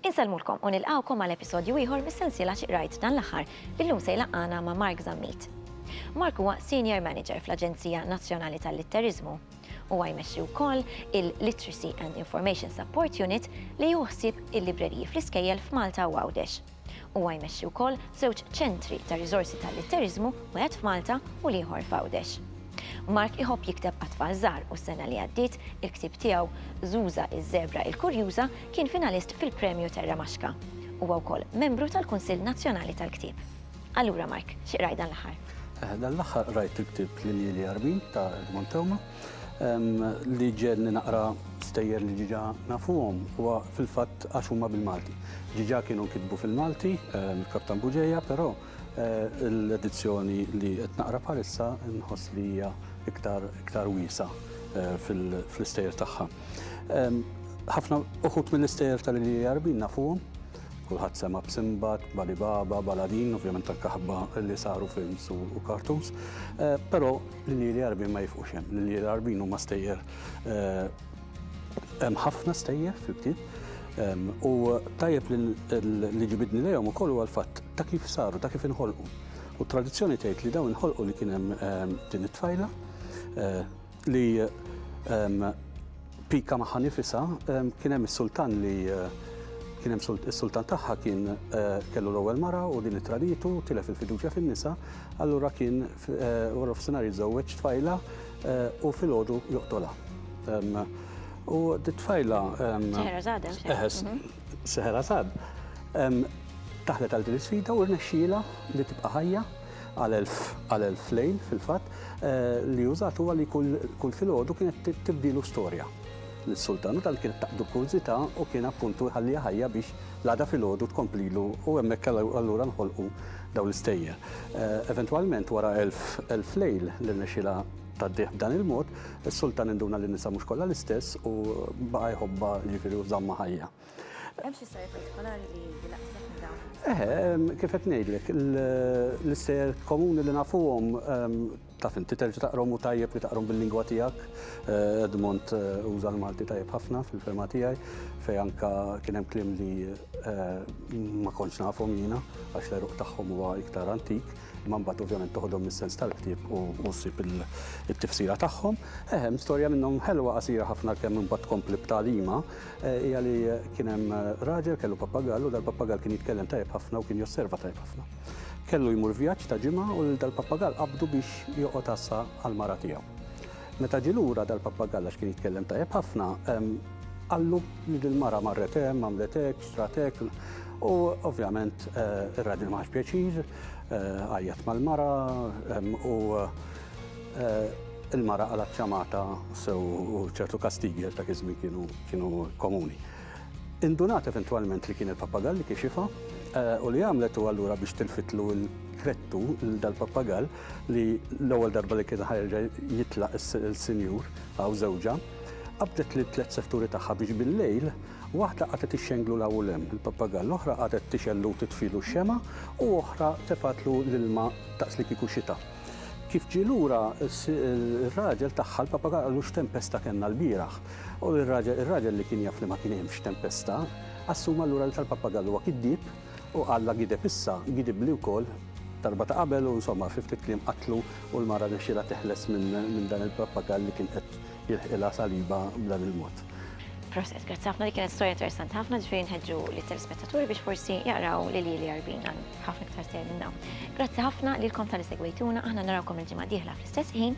Insellmulkom u nilqawkom għal episodju ieħor mis-sensiela xi qrajt dan l-aħħar billum se jlaqqana ma' Mark Zammit. Mark huwa Senior Manager fl-Aġenzija Nazzjonali tal-Litteriżmu u jmexxi wkoll il-Literacy and Information Support Unit li juħsib il-libreriji fl-iskejjel f'Malta u Għawdex. Huwa jmexxi wkoll żewġ ċentri ta' riżorsi tal-litteriżmu, wieħed f'Malta u l-ieħor f'Għawdex. Mark iħobb jikteb għat-tfal żgħar u s-sena li għaddiet, il-ktieb tiegħu Zuza iż-Żebra il-Kurjuża kien finalist fil-Premju Terra Maxka. Huwa wkoll membru tal-Kunsill Nazzjonali tal-Ktieb. Allura Mark, xi qrajt dan l-aħħar? Dan l-aħħar qrajt il-ktieb L-Iljieli Għarbin ta' Edmond Theuma. Li ġenni naqra stejjer li ġiġa nafuhom huwa fil-fatt għax huma bil-Malti. Ġiġa kienu nkitbu fil-Malti, il-Kaptan Buġeja, però l-edizzjoni li qed naqra bħalissa nħoss li hija iktar wiesa' fl-istejjer tagħha. Ħafna uħud mill-istejjer tal-Ilija Jarbin nafuhom, Kulħadd sema' b'Simbad, b'Ali Baba, b'Aladin, ovvjament anke ħabba li saru films u cartoons. Eh, però l-Lili Arbin ma jifqux hemm. L-Lili Arbin huma stejjer eh, hemm ħafna stejjer fil-ktieb. Ehm, u tajjeb li ġibidni lejhom ukoll huwa l-fatt ta' kif saru, ta' kif inħolqu. U tradizzjoni tgħid li dawn inħolqu li kien hemm ehm, din it-tfajla eh, li pika magħha nifisha kien hemm is-sultan li kien hemm is-sultan tagħha kien kellu l-ewwel mara u din it-traditu tilef il-fiduċja fin-nisa, allura kien wara f'sinar jiżżewweġ tfajla u filgħodu joqtolha. U dit-tfajla Seħerazad hemm Seħerazad taħlet għal din is-sfida u rnexxielha li tibqa' ħajja għal elf għal elf lejl fil-fatt, li użat huwa li kull filgħodu kienet tibdilu storja lis-sultan u dan kienet taqdu kurżità u kien appuntu jħalliha ħajja biex l-għada filgħodu tkomplilu u hemmhekk allura nħolqu dawn l-istejjer. Eventwalment wara elf elf lejl li rnexxielha tgħaddih b'dan il-mod, is-sultan induna li n-nisa mhux kollha l-istess u baqa' jħobbha jiġifieri u żammha ħajja. Hemm xi stejjer partikolari li jnaqqslek minn dawn? Eħe, kif qed ngħidlek, l-istejjer komuni li nafuhom taf inti terġa' taqrom u tajjeb li taqrom bil-lingwa tiegħek. Eh, Edmond eh, uża l-Malti tajjeb ħafna fil-fema tiegħi fej anka kien hemm kliem li eh, ma kontx nafhom jiena għax l-eruq tagħhom huwa iktar antik. imma mbagħad ovvjament toħodhom mis-sens tal-ktieb u ssib it-tifsira tagħhom. Eħem, storja minnhom ħelwa qasira ħafna kemm imbagħad tkompli b'talima eh, hija li kien hemm eh, raġel kellu pappagall u dal-pappagall kien jitkellem tajjeb ħafna u kien josserva tajjeb ħafna. Kellu jmur vjaġġ ta' ġimgħa u dal-pappagall qabdu biex joqgħod assa għal mara tiegħu. Meta ġie lura dal-pappagall għax kien jitkellem tajjeb ħafna, qallu li dil-mara marret hemm, għamlet hekk, xtrat hekk. U ovvjament ir-raġel ma ħax pjaċir, għajjat mal-mara u il-mara qalat ċamata sew u ċertu kastigi għax dak iż-żmien kienu kienu komuni. Indunat eventwalment li kien il-pappagall li kixifha u li għamlet u allura biex tilfitlu l-krettu l dal-pappagall, li l-ewwel darba li kien ħa jerġa' jitlaq is-Sinjur hawn żewġha, qabdet lit-tliet sefturi tagħha biex bil-lejl waħda qagħdet ixxenglu 'l hawn u 'l hemm il-pappagall, l-oħra qagħdet tixgħel u titfilu x-xemgħa u oħra tefgħatlu l-ilma daqs li kieku xita. Kif ġie lura, ir-raġel tagħha, l-pappagall qallu x'tempesta kellna lbieraħ. U r-raġel li kien jaf li ma kien hemmx tempesta, assuma allura li tal-pappagall huwa kiddieb, U Alla gideb issa, gidibli wkoll darba ta' qabel u insomma fi ftit kliem qatlu u l-mara rnexxielha teħles minn dan il-prappagal li kien qed jilħqilha salibha b'dan il-mod. Proset, grazzi ħafna, dik kienet storja interessanti ħafna, ġifieri nħeġġu lit-telespettaturi biex forsi jaqraw lil Ili Għarbin għal ħafna iktar sew minn hawn. Grazzi ħafna lilkom talli segwejtuna, aħna narawkom il-ġimgħa d-dieħla fl-istess ħin.